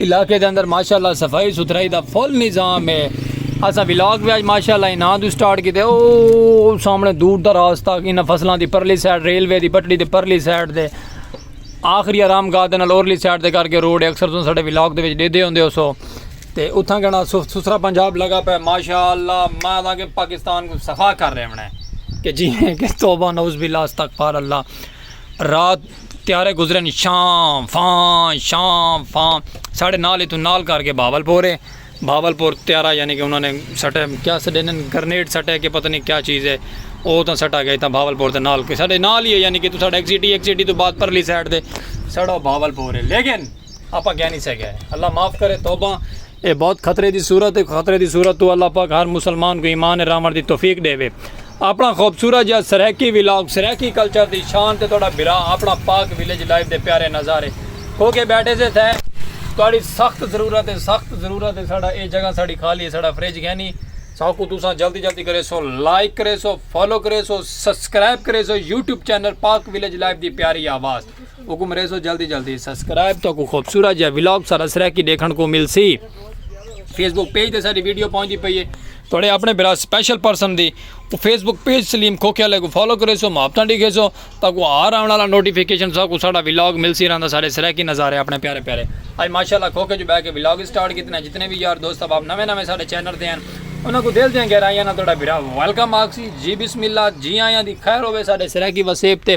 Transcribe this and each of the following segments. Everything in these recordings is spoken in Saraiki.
علاقے دے اندر ماشاءاللہ صفائی ستھرائی دا فل نظام ہے اساں ولاگ وی اج ماشاءاللہ انہاں دو سٹارٹ کیتے او سامنے دور دا راستہ انہاں فصلاں دی پرلی سائیڈ ریلوے دی پٹڑی دی پرلی سائیڈ دے آخری آرام گاہ دے نال اورلی سائیڈ دے کر کے روڈ اکثر تساں ساڈے ولاگ دے وچ ڈیدے ہوندے ہو سو تے اتھاں کہنا سسرا پنجاب لگا پے ماشاءاللہ میں اساں کے پاکستان کو صفا کر رہے ہونے کہ جی کہ توبہ نعوذ باللہ استغفار اللہ رات تیارے گزرن شاں فاں شاں فاں ساڑھے نال ہی تو نال کر کے بھاول پور ہے بھاول پور تیارا یعنی کہ انہوں نے سٹے کیا سٹے نے گرنیڈ سٹے کہ پتہ نہیں کیا چیز ہے او تاں سٹا گئے تاں بھاول پور تے نال کے ساڑھے نال ہی ہے یعنی کہ تو ساڑھے ایک سٹی ایک سٹی تو بعد پرلی سائڈ دے ساڑھا بھاول پور ہے لیکن آپاں کیا نی سگے اللہ معاف کرے توبہ اے بہت خطرے دی صورت اے خطرے دی صورت تو اللہ پاک ہر مسلمان کو ایمان اے راون دی توفیق ڈے وے اپنا خوبصورت جا سرائیکی ولاگ سرائیکی کلچر دی شان تے تہاڈا بھرا اپنا پاک ولیج لائف دے پیارے نظارے کھو کے بیٹھے سے تھے تہاڈی سخت ضرورت اے سخت ضرورت اے ساڈا اے جگہ ساڈی خالی اے ساڈا فریج گھنی ساکو تساں جلدی جلدی کرے سو لائک کرے سو فالو کرے سو سبسکرائب کرے سو YouTube channel Pak village life دی پیاری آواز حکم ریزو جلدی جلدی سبسکرائب تو کو خوبصورت جا ولاگ سارا سرا کی دیکھن کو مل سی فیس بک پیج تے ساری ویڈیو پہنچی پئی ہے تھوڑے اپنے برا سپیشل پرسن دی وہ فیس بک پیج سلیم کھوکھے والے کو فالو کرے سو محبتاں ڈیکھے سو تاکو ہر آنے والا نوٹیفیکیشن سا کو ساڑا ولاگ مل سی رہندا سارے سرا کی نظارے اپنے پیارے پیارے آج ماشاءاللہ کھوکھے جو بہ کے ولاگ سٹارٹ کیتے ہیں جتنے بھی یار دوست اب آپ نویں نویں سارے چینل تے ہیں انہاں کو دل دیاں گہرائیاں نہ تھوڑا برا ویلکم آکسی جی بسم اللہ جی آیاں دی خیر ہوے سارے سرا کی وسیب تے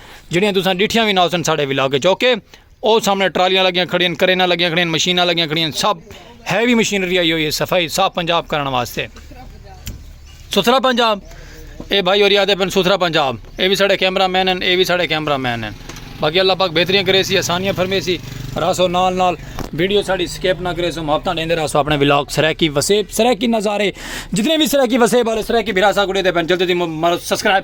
جیڑھیاں تساں ڈٹھیاں وی نہ ہوسن ساڈے ولاگ اچ اوکے او سامنے ٹرالیاں لگیاں کھڑین کرینا لگیاں کھڑین مشیناں لگیاں کھڑین سب ہیوی مشینری آئی ہوئی ہے صفائی صاف پنجاب کرن واسطے ستھرا پنجاب اے بھائی اور یاد پن ستھرا پنجاب اے بھی ساڈے کیمرہ مین ہیں اے بھی ساڈے کیمرہ مین ہیں باقی اللہ پاک بہتریاں کرے سی آسانیاں فرمے سی راسو نال نال ویڈیو ساڑی سکیپ نہ کرے سو محبتاں دیندے راسو اپنے ولاگ سرائیکی وسیب سرائیکی نظارے جتنے بھی سرائیکی وسیب والے سرائیکی بھراسا گڑے دے پین جلدی دی سبسکرائب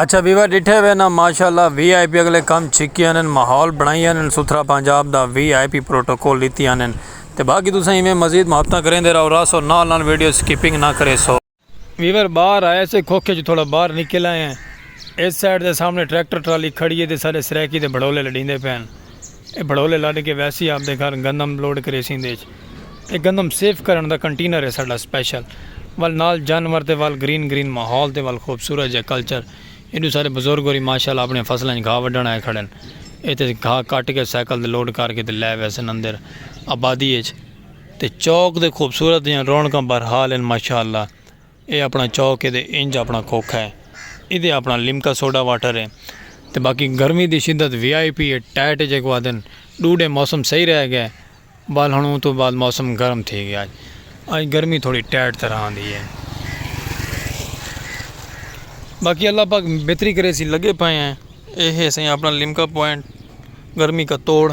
اچھا ویوا ڈٹھے ہوئے نا ماشاءاللہ وی آئی پی اگلے کم چھکی آنن ماحول بنائی آنن ستھرا پنجاب دا وی آئی پی پروٹوکول لیتی آنن تے باقی تساں ایویں مزید محبتاں کریں دے راو راسو نال نال ویڈیو سکیپنگ نہ کرے سو ویور باہر آئے سے کھوکھے چوں تھوڑا باہر نکل آئے ہیں۔ اس سائیڈ دے سامنے ٹریکٹر ٹرالی کھڑی ہے تے سارے سرائیکی دے بھڑولے لڈیندے پئے ہن۔ اے بھڑولے لڈ کے ویسی آپ دے گھر گندم لوڈ کریسی ایندے اچ۔ اے گندم سیف کرن دا کنٹینر ہے ساڈا سپیشل۔ ول نال جانور تے ول گرین گرین ماحول تے ول خوبصورت جیہا کلچر۔ ایڈو سارے بزرگ ہوری ماشاءاللہ آپنیاں فصلاں اچ گھاہ وڈھن آئے کھڑن۔ ایتھے گھاہ کٹ کے سائیکل تے لوڈ کر کے تے لے ویسن اندر آبادی اچ۔ تے چوک دے خوبصورت دیاں رونقاں بہرحال ہن ماشاء اللہ اے اپنا چوک ہے تے انج اپنا کھوکھا ہے ایدے اپنا لمکا سوڈا واٹر ہے تے باقی گرمی دی شدت وی آئی پی ہے ٹائٹ ہے جیکو آدھن ڈو ڈے موسم صحیح رہ گئے بال ہن اوں تو بعد موسم گرم تھی گیا اج گرمی تھوڑی ٹائٹ طرح دی ہے باقی اللہ پاک بہتری کرے سی لگے پائے ہیں اے ہے سائیں اپنا لمکا پوائنٹ گرمی کا توڑ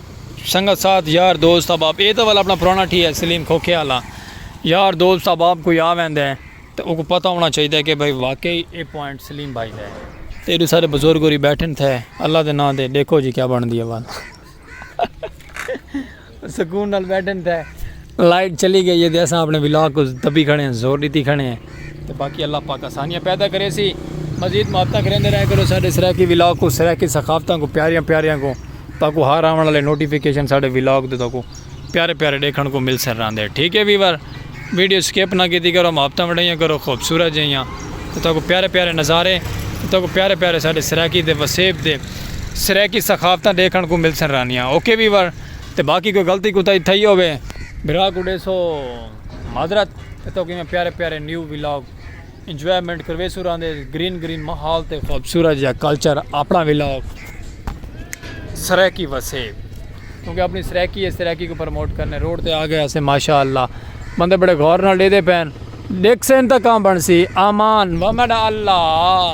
سنگت ساتھ یار دوست احباب اے تاں والا اپنا پرانا ٹھی ہے سلیم کھوکھے والا یار دوست احباب کوئی آ ویندا ہے تے اوکوں پتہ ہونا چاہیدا ہے کہ بھائی واقعی اے پوائنٹ سلیم بھائی دا ہے تے ایڈو سارے بزرگ ہوری بیٹھن تھے اللہ دے ناں دے ڈیکھو جی کیا بن دی ہے سکون نال بیٹھن تھے لائٹ چلی گئی ہے تے اساں اپنے ولاگ کو دبی کھڑے ہیں زور دیتی کھڑے ہیں تے باقی اللہ پاک آسانیاں پیدا کرے سی مزید محبتاں کریندے رہے کرو ساڈے سرائیکی ولاگ کو سرائیکی ثقافتاں کو پیاریاں پیاریاں کو تاکو ہر آون والے نوٹیفیکیشن ساڈے ولاگ دے تاکو پیارے پیارے دیکھن کو مل سر راندے ٹھیک ہے ویور ویڈیو سکپ نہ کیتی کرو محبتاں وڈائیاں کرو خوبصورت جیاں تے تاکو پیارے پیارے نظارے تے تاکو پیارے پیارے ساڈے سرائیکی دے وسیب دے سرائیکی ثقافتاں دیکھن کو مل سر رانیاں اوکے ویور تے باقی کوئی غلطی کوتاہی تھئی ہووے بھرا کوں ڈیسو معذرت تے توکوں ایویں پیارے پیارے نیو ولاگ انجوائمنٹ کرویسوں راندے گرین گرین ماحول تے خوبصورت جا کلچر اپنا ولاگ سرائیکی وسے کیونکہ اپنی سرائیکی ہے سرائیکی کو پروموٹ کرنے روڈ تے آ گئے اسے ماشاءاللہ بندے بڑے غور نال ڈیدے پین ڈیکھ سین تا کام بنسی آمان ومن اللہ